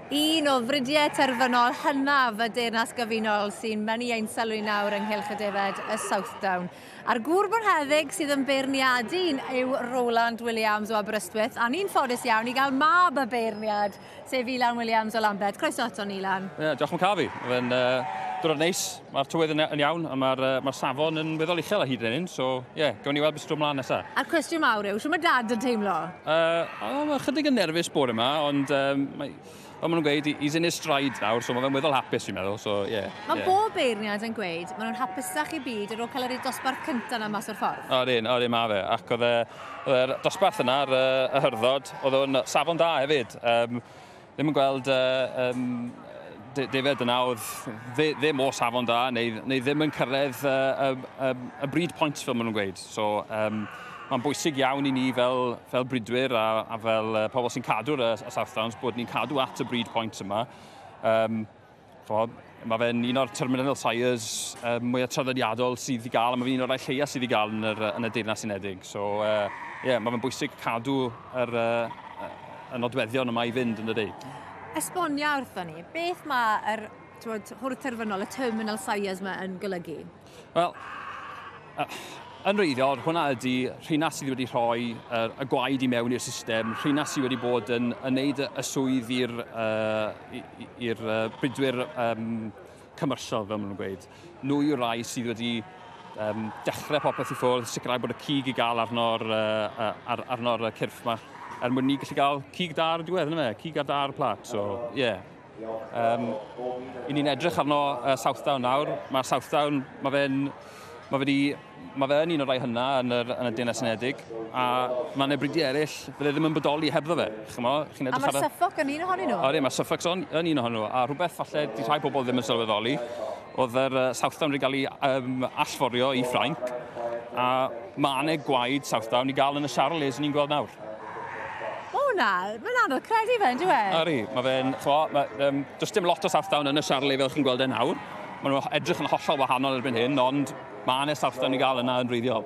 Un o fridiau terfynol hynaf y Deyrnas Gyfunol sy'n mynnu ein sylw nawr ynghylch y defaid y Southdown. A'r gŵr bonheddig sydd yn beirniadu yw Roland Williams o Aberystwyth, a ni'n ffodus iawn i gael mab y beirniad, sef Ilan Williams o Lambed. Croeso ato ni, Ilan. Ie, diolch am cael fi. Mae'n uh, diwrnod neis. Mae'r tywydd yn, yn iawn a mae'r uh, ma safon yn weddol uchel a hyd yn hyn, so ie, yeah, gawn ni weld beth sy'n mlaen nesaf. A'r cwestiwn mawr yw, sy'n mae dad yn teimlo? Uh, oh, mae chydig yn nerfus bod yma, ond um, mae, fel maen nhw'n gweud, he's in his stride nawr, so mae fe'n weddol hapus fi'n meddwl, so ie. Yeah, mae yeah. bob beirniad yn gweud, maen nhw'n hapusach i byd ar ôl cael yr dosbarth cyntaf na mas o'r ffordd. O'r un, o'r un mae fe, ac oedd e'r dosbarth yna, yr, y hyrddod, oedd o'n safon da hefyd. Um, Ddim yn gweld yy defaid yn awdd, ddim o safon da neu ddim yn cyrraedd y bryd pwynt fel maen nhw'n gweud. So mae'n bwysig iawn i ni fel bridwyr a fel pobl sy'n cadw'r Southdowns bod ni'n cadw at y bryd pwynt yma. Chod, mae fe'n un o'r terminal sires uh, mwyaf traddodiadol sydd i gael, a mae fe'n un o'r rhai lleia sydd i gael yn, yr, yn y Deyrnas Unedig. So, uh, yeah, mae fe'n bwysig cadw yr, uh, y nodweddion yma i fynd yn y dweud. Esbonia wrthon ni, beth mae'r yr, hwrdd terfynol, y terminal sires yma yn golygu? Wel, yn wreiddiol, hwnna ydy rheina sydd wedi rhoi uh, y gwaed i mewn i'r system, rheina sydd wedi bod yn, yn neud y swydd i'r uh, uh, bridwyr um, commercial, fel maen nhw'n gweud. Nhw yw'r rai sydd wedi um, dechrau popeth i ffwrdd, sicrhau bod y cig i gael arno'r uh, ar, arno cyrff yma, er mwyn ni gallu cael cig da ar y diwedd, yna fe, cig a da ar y plat, so, ie. Yeah. Um, I ni'n edrych arno uh, Southdown nawr. Mae Southdown, mae fe'n... Mae fe, mae fe yn un o'r rhai hynna yn, yr, yn y Deyrnas Unedig, a mae yna bridi eraill, fydde ddim yn bodoli hebddo fe. Chymo, chi'n edrych a mae'r Suffolk yn un ohonyn nhw? Oedden, mae Suffolk yn, yn un ohonyn nhw, a rhywbeth falle di rhai pobl ddim yn sylweddoli, oedd yr uh, Southdown wedi cael ei um, allforio i Ffrainc, a mae aneg gwaed Southdown i gael yn y Charles ni'n gweld nawr. O na, mae'n anodd credu fe, ynddo e? Yri, mae fe'n, chwa, mae, um, does dim lot o sarthdawn yn y siarlu fel chi'n gweld e nawr. Mae nhw'n edrych yn hollol wahanol erbyn hyn, ond mae yna sarthdawn i gael yna yn wreiddiol.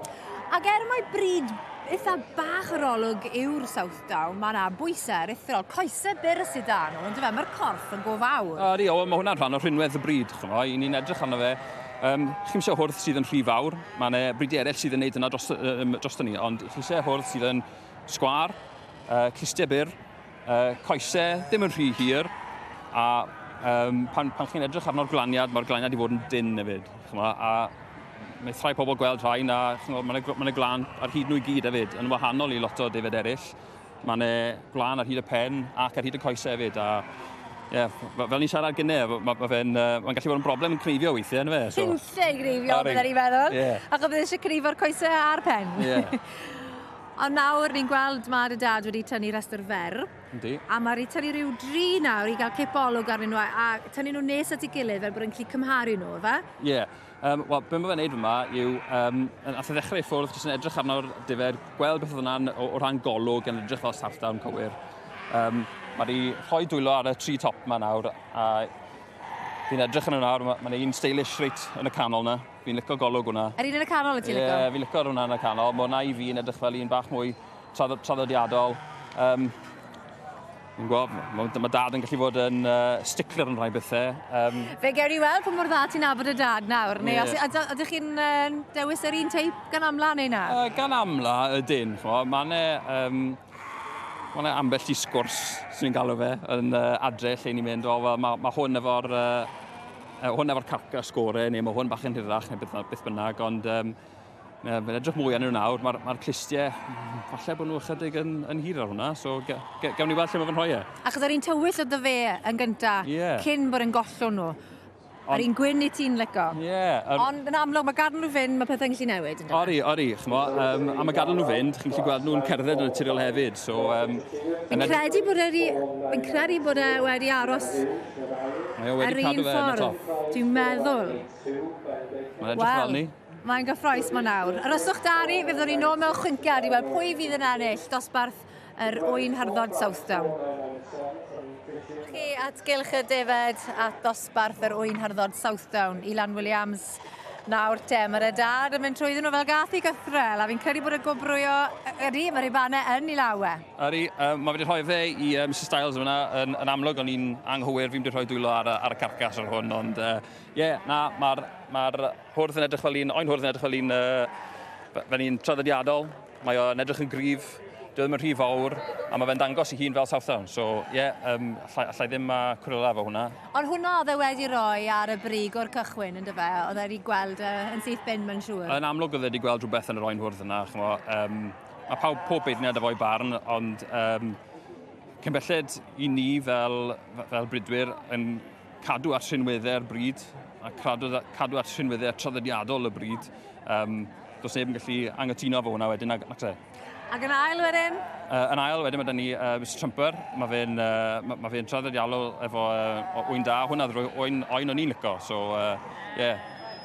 Ac er mae bryd eitha bach yr olwg yw'r South Down, mae yna bwysau aruthrol, coesau byr y sydd dan nhw, ond fe, mae'r corff yn go fawr. Ydy, o, mae hwnna'n rhan o rhinwedd y bryd, chymoi, i ni'n edrych arno fe, Um, chi eisiau hwrdd sydd yn rhy fawr, mae yna bridi eraill sydd yn gwneud yna dros, um, dros ni, ond chi eisiau hwrdd sydd yn sgwar, uh, clustiau byr, uh, coesau ddim yn rhy hir, a um, pan, pan chi'n edrych arno'r glaniad, mae'r glaniad i fod yn dyn hefyd. Chymod, a mae rhai pobl gweld rhain a mae'n ma glan ar hyd nhw i gyd hefyd, yn wahanol i lot o defed eraill. Mae'n e, gwlan ar hyd y pen ac ar hyd y coes hefyd. A, yeah, fel ni'n siarad gynne, mae ma, ma fe'n uh, ma gallu bod yn broblem yn creifio weithiau, yn fe? So. Ti'n lle greifio, bydda ni'n meddwl. Yeah. Ac o bydd eisiau creifo'r coesau a'r pen. Yeah. Ond nawr ni'n gweld mae dy dad wedi tynnu rhestr fer. Yndi. A mae wedi tynnu rhyw dri nawr i gael cipolwg arnyn nhw a, a tynnu nhw nes at ei gilydd fel bod yn gallu cymharu nhw, fe? Ie. Yeah. Um, Wel, beth mae'n gwneud yma yw, um, nath e ddechrau i ffwrdd, jyst yn edrych arno'r difer, gweld beth oedd yna'n o, o ran golwg yn edrych fel sartan cywir. Um, mae wedi rhoi dwylo ar y tri top yma nawr, a fi'n edrych yn yna, mae'n ma un stylish reit yn y canol yna. Fi'n licio golwg hwnna. Yr un yn y canol y ti'n licio? Ie, yeah, fi'n licio hwnna yn y canol. Mae hwnna i fi'n edrych fel un bach mwy traddodiadol. Um, Yn gwybod, mae, mae dad yn gallu bod yn uh, stickler yn rhai bethau. Um, Fe ger i weld pa mor dda ti'n abod y dad nawr, neu yeah. os, a, ydych chi'n uh, dewis yr un teip gan amla neu na? Uh, gan amla y dyn, mae'n e, um, mae ambell i sgwrs sy'n galw fe yn uh, adre lle ni'n mynd, o, mae, mae hwn efo'r uh, uh, hwn efo'r carca sgore, neu mae hwn bach yn hirach, neu beth, beth bynnag, ond um, Mae'n edrych mwy arnyn nhw nawr, mae'r ma clustiau, falle bod nhw ychydig yn, yn hir ar hwnna, so gawn ni weld lle mae fy rhoi e. Achos ar un tywyll o ddyfe yn gynta, yeah. cyn bod yn gollwn nhw. Ar un gwyn i ti'n lyco. Ie. Yeah, ar... Ond yn amlwg, mae gadw nhw fynd, mae pethau'n gallu newid. Ynddo? Ori, ori, chmo. Um, a mae gadw nhw fynd, chi'n gallu gweld nhw'n cerdded yn y naturiol hefyd. So, um, yn credu bod wedi, yn credu bod e wedi aros Mae o wedi cadw fe yn y top. Dwi'n meddwl. Mae'n edrych fel ni. Mae'n gyffroes ma nawr. Aroswch Dari, fe fyddwn ni nôl mewn chwyntiad i weld pwy fydd yn ennill dosbarth yr Oen Harddod Southdown. Chi at gylch y defed at dosbarth yr Oen Harddod Southdown, Ilan Williams. Nawr te, mae'r edad yn mynd trwy ddyn nhw fel gath i gythrel, a fi'n credu bod y gwobrwyo ydy, mae'r Ibane yn ei law e. Ydy, um, mae wedi rhoi fe i uh, Mr Styles yna, yn, yn amlwg o'n i'n anghywir, fi'n wedi rhoi dwylo ar, ar y carcas ar hwn, ond ie, uh, yeah, na, mae'r ma Hwrdd yn edrych fel un, oen hwrdd yn edrych fel un, uh, fel un traddodiadol. Mae o'n edrych yn gryf, dwi ddim yn rhy fawr, a mae fe'n dangos i hun fel Southdown. So, ie, yeah, um, allai, allai ddim uh, cwrela efo hwnna. Ond hwnna oedd e wedi rhoi ar y brig o'r cychwyn, ynddo fe? Oedd e wedi gweld uh, yn syth bin, mae'n siŵr. Yn amlwg oedd e wedi gweld rhywbeth yn yr oen hwrdd yna. Chmo, um, mae pawb pob beirniad efo'i barn, ond um, cyn belled i ni fel, fel bridwyr yn cadw at rhinweddau'r bryd a cadw, cadw at rhinweddau traddodiadol y bryd. Um, does neb yn gallu angytuno fo hwnna wedyn, ac, ac Ac yn ail wedyn? Uh, yn ail wedyn mae dyn ni uh, Mr Trumper, mae fe'n uh, ma, ma fe traddodiadol efo uh, oen da, hwnna ddrwy oen, oen o'n i'n lico, so uh, yeah.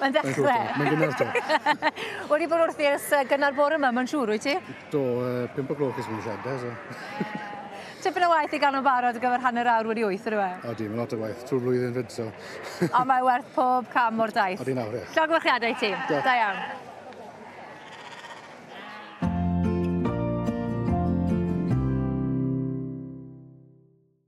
Mae'n ddechrau. Mae'n gynnar to. Wedi bod wrthi ers uh, gynnar bore yma, mae'n siŵr, wyt ti? Do, uh, 5 o gloch ys mynd siadau, so. Tipyn o waith i gael o'n barod ar gyfer hanner awr wedi wyth, ydw e? O, di, mae'n lot o waith, trwy flwyddyn fyd, so. o, mae werth pob cam o'r daith. O, di nawr, ie. Llog gwrchiadau i ti. Da. da iawn.